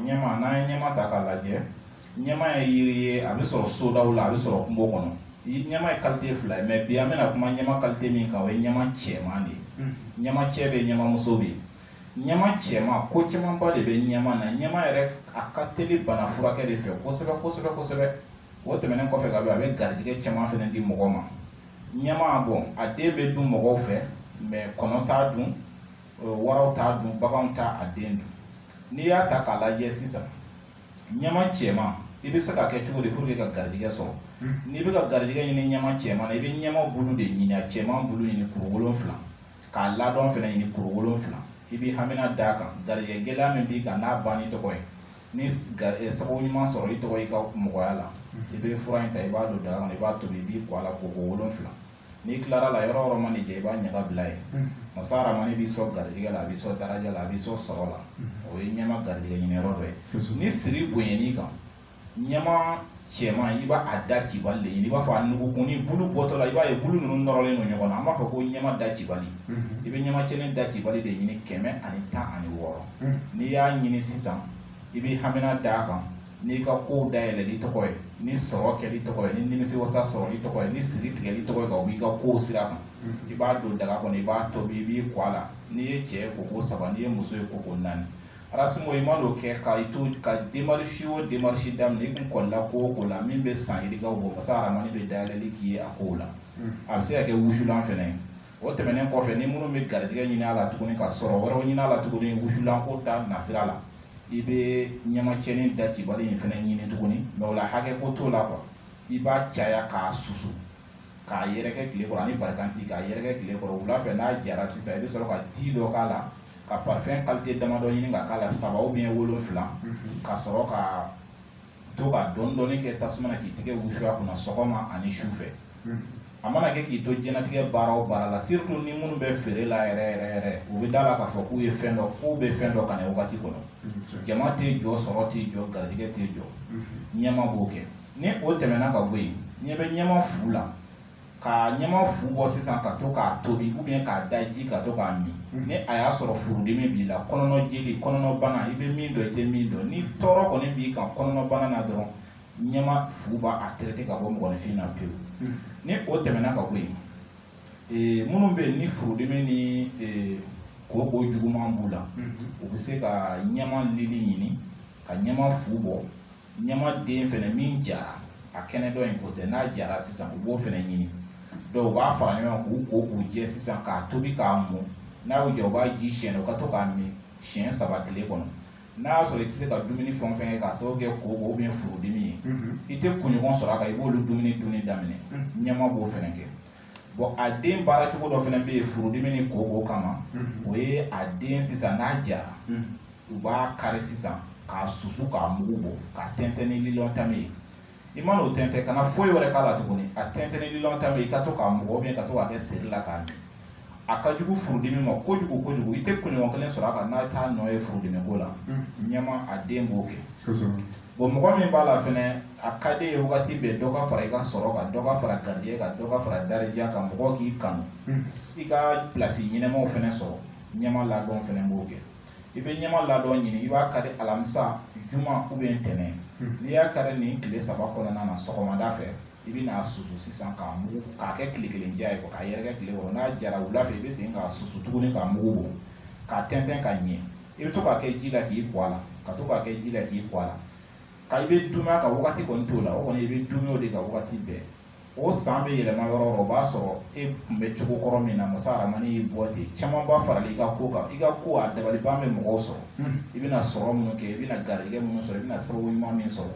ɲɛma n'an ye ɲɛma ta k'a lajɛ ɲɛma ye yiri ye a bɛ sɔrɔ sodaw la a bɛ sɔrɔ kungo kɔnɔ ɲɛma ye kalite fila ye mɛ bi an bɛna kuma ɲɛma kalite min kan o ye ɲɛma cɛman de ye ɲɛma cɛ bɛ ɲɛma muso bɛ yen ɲɛma cɛman ko camanba de bɛ ɲɛma na ɲɛma yɛrɛ a ka teli bana furakɛ de fɛ kosɛbɛ kosɛbɛ kosɛbɛ o tɛmɛnen kɔfɛ ka bɔ a bɛ garijɛgɛ caman fana di mɔgɔ ma ɲɛma bɔn a den bɛ dun mɔgɔw fɛ mɛ kɔnɔ t'a dun waraw t'a dun baganw t'a den dun n'i y'a ta k'a lajɛ sisan ɲama cɛman i bɛ se k'a kɛ cogo di pour que ka garijɛgɛ sɔrɔ n'i bɛ ka garijɛgɛ ɲini ɲama cɛman na i bɛ ɲama bulu de ɲini a cɛman bulu ɲini kuru wolonfila k'a ladɔn fana ɲini kuru wolonfila i bɛ hamina d'a kan garijɛgɛ gɛlɛya min b'i kan n'a banni tɔgɔ ye ni eh, sababu ɲuman sɔrɔli tɔgɔ i ka mɔgɔya la i bɛ fura in ta i b'a don daga kɔnɔ i b'a tobi i b'i ko a la koko wolonfila n'i tilara a la yɔrɔ yɔrɔ mana jɛ i b'a ɲaga bila yen masa aramani b'i sɔn garijɛgɛ la a b'i sɔn daraja la a b'i sɔn sɔrɔ la o ye ɲɛma garijɛgɛ ɲini yɔrɔ dɔ ye ni siri bonyɛn'i kan ɲɛma cɛman i b'a da cibali de ɲini i b'a fɔ a nugukun ni bulu bɔtɔ la i b'a ye bulu ninnu nɔrɔlen don ɲɔgɔn na an b'a fɔ ko ɲɛma da cibali i bɛ ɲɛma cɛnin da cibali de ɲini kɛmɛ ani tan ani wɔɔrɔ n'i y'a ɲini sisan i bɛ hamina d'a kan n'i ka kow dayɛlɛli tɔgɔ ye ni sɔrɔ kɛli tɔgɔ ye ni nimisiwasa sɔrɔli tɔgɔ ye ni siri tigɛli tɔgɔ ye ka b'i ka kow sira kan i b'a don daga kɔnɔ i b'a tobi i b'i ko a la n'i ye cɛ ye koko saba n'i ye muso ye koko naani arasimo i man'o kɛ ka i to ka demarisi o demarisi daminɛ i kun kɔlila ko o ko la min bɛ san yirikaw bɔ masa aramani bɛ dayɛlɛli k'i ye a kow la a bɛ se ka kɛ wusulan fɛnɛ ye o tɛmɛnen kɔfɛ ni minnu bɛ garijɛgɛ ɲini a la tuguni ka sɔrɔ wɛrɛw ɲini a la tuguni wusulanko ta nasira la i bɛ ɲamacɛnin da cibali in fana ɲini tuguni mɛ o la hakɛ ko t'o la kuwa i b'a caya k'a susu k'a yɛrɛkɛ tile kɔrɔ ani barakanti k'a yɛrɛkɛ tile kɔrɔ wula fɛ n'a jara sisan i bɛ sɔrɔ ka di dɔ k'a la ka parifɛn kalite damadɔ ɲini ka k'a la saba ou bien wolonwula ka sɔrɔ ka to ka dɔɔni dɔɔni kɛ tasuma na k'i tɛgɛ wusu a kunna sɔgɔma ani su fɛ a mana kɛ k'i to diɲɛlatigɛ baara o baara la surtout ni minnu bɛ feere la yɛrɛ yɛrɛ yɛrɛ u bɛ da a la k'a fɔ k'u ye fɛn dɔ k'u bɛ fɛn dɔ kan a wagati kɔnɔ jama tɛ jɔ sɔrɔ tɛ jɔ garijɛgɛ tɛ jɔ ɲɛma b'o kɛ ni o tɛmɛna ka bɔ yen ɲɛ bɛ ɲɛma fu la ka ɲama fu bɔ sisan ka to k'a tobi ou bien k'a daji ka to k'a min ni a y'a sɔrɔ furudimi b'i la kɔnɔna jeli kɔnɔna bana i bɛ min dɔn i tɛ min dɔn ni tɔɔrɔ kɔni b'i kan kɔnɔna bana na dɔrɔn ɲama fu b'a traiter ka bɔ mɔgɔninfin na pewu ni o tɛmɛna ka bɔ yen ee minnu bɛ yen ni furudimi ni ee koko juguman b'u la u bɛ se ka ɲɛma lili ɲini ka ɲɛma fu bɔ ɲama den fɛnɛ min jara a kɛnɛ dɔ in ko tɛ n'a jara sisan u b'o fɛnɛ ɲini dɔw b'a fara ɲɔgɔn k'u ko k'u jɛ sisan k'a tobi k'a mɔ n'a y'u jɛ u b'a ji siyɛn u ka to k'a min siɲɛ saba tile kɔnɔ n'a y'a sɔrɔ i tɛ se ka dumuni fɛn o fɛn kɛ k'a sababu kɛ koko ou bien furudimi ye i tɛ kunɲɔgɔn sɔrɔ a kan i b'olu dumuni dunni daminɛ ɲama b'o fɛnɛ kɛ bon a den baara cogo dɔ fɛnɛ bɛ yen furudimi ni koko kama o ye a den sisan n'a jara u b'a kari sisan k'a susu k'a mugu bɔ k'a tɛntɛn ni lilɔn tame ye i mana o tɛntɛn kana foyi wɛrɛ k'a la tuguni a tɛntɛn ni lilɔn tame i ka to k'a mugan ou bien ka to k'a kɛ seri la k'a min a ka jugu furudimi ma kojugu kojugu i tɛ kunɲɔgɔn kelen sɔrɔ a kan n'a t'a nɔ ye furudimi ko la ɲama a den b'o kɛ bon mɔgɔ min b'a la fɛnɛ a ka di ye wagati bɛɛ dɔ ka fara i ka sɔrɔ kan dɔ ka fara garijɛgɛ kan dɔ ka fara daraja kan mɔgɔw k'i kanu i ka pilasi ɲɛnamaw fɛnɛ sɔrɔ ɲama ladɔn fɛnɛ b'o kɛ i bɛ ɲama ladɔn ɲini i b'a kari alamisa juma ou bien ntɛnɛn n'i y'a kari nin tile saba kɔnɔna na sɔgɔmada fɛ i bɛ n'a susu sisan k'a mugu k'a kɛ tile kelen ja ye k'a yɛrɛkɛ tile kɔrɔ n'a jara wula fɛ i bɛ segin k'a susu tuguni k'a mugu bɔ k'a tɛntɛn ka ɲɛ i bɛ to k'a kɛ ji la k'i ko a la ka to k'a kɛ ji la k'i ko a la ka i bɛ dunya ka waati kɔni t'o la o kɔni i bɛ dunw de ka waati bɛɛ o san bɛ yɛlɛma yɔrɔ o b'a sɔrɔ e tun bɛ cogo kɔrɔ min na masa aramani y'i bɔ ten caman b'a fara i ka ko kan i ka ko a dabaliban bɛ mɔgɔw sɔrɔ i bɛna sɔrɔ minnu kɛ i bɛna garijɛgɛ minnu sɔrɔ i bɛna sababu ɲuman min sɔrɔ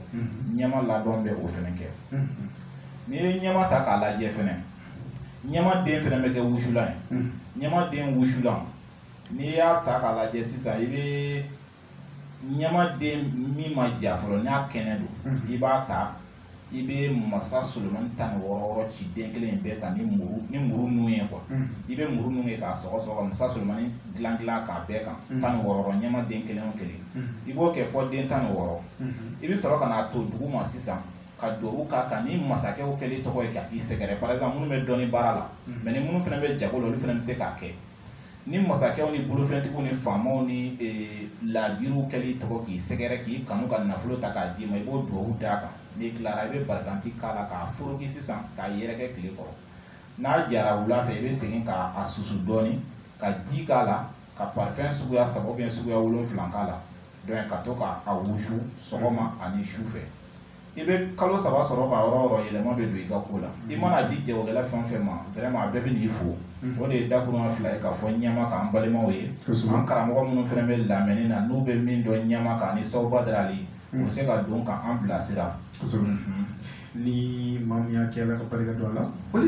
ɲama ladɔn bɛ o fɛnɛ kɛ n'i ye ɲama ta k'a lajɛ fɛnɛ ɲama den fɛnɛ bɛ kɛ wusulan ye ɲama den wusulan n'i y'a ta k'a lajɛ sisan i bɛ ɲama den min ma ja fɔlɔ n'a kɛnɛ don mhm. i b'a ta i bɛ masa solomani tan ni wɔɔrɔ wɔɔrɔ ci den kelen in bɛɛ kan ni muru ni muru nun ye quoi mhm. i bɛ muru nun ye k'a sɔgɔ sɔgɔ ka masa solomani dilan dilan k'a bɛɛ kan mhm. tan ni wɔɔrɔ wɔɔrɔ ɲama den kelen o kelen i b'o kɛ fɔ den tan ni wɔɔrɔ i bɛ sɔrɔ ka n'a to duguma sisan ka duwawu k'a kan ni masakɛw kɛlen tɔgɔ ye ka i sɛgɛrɛ par exemple minnu bɛ dɔnni baara la mais ni minnu fɛnɛ bɛ jago la olu fɛnɛ bɛ se k'a kɛ ni masakɛw ni bolofɛntigiw ni faamaw ni laadiriw kɛli tɔgɔ k'i sɛgɛrɛ k'i kanu ka nafolo ta k'a d'i ma i b'o duwawu d'a kan n'i tilara i bɛ barikanti k'a la k'a foroki sisan k'a yɛrɛkɛ tile kɔrɔ n'a jara wula fɛ i bɛ segin k'a susu dɔɔnin ka di k'a la ka parfɛn suguya saba ou bien suguya wolonfila k'a la donc ka to k'a wusu sɔgɔma ani su fɛ i bɛ kalo saba sɔrɔ ka yɔrɔ yɔrɔ yɛlɛma bɛ don i ka ko la i mana di jagokɛla fɛn o fɛn ma vraiment a bɛɛ bɛ n'i fo o de ye dakuruma fila ye k'a fɔ ɲama kan an balimaw ye an karamɔgɔ minnu fɛnɛ bɛ lamɛnni na n'u bɛ min dɔn ɲama kan ni Sawu Badara Ali u bɛ se ka don k'an bilasira ni maa min y'a kɛ Ala ka barika don a la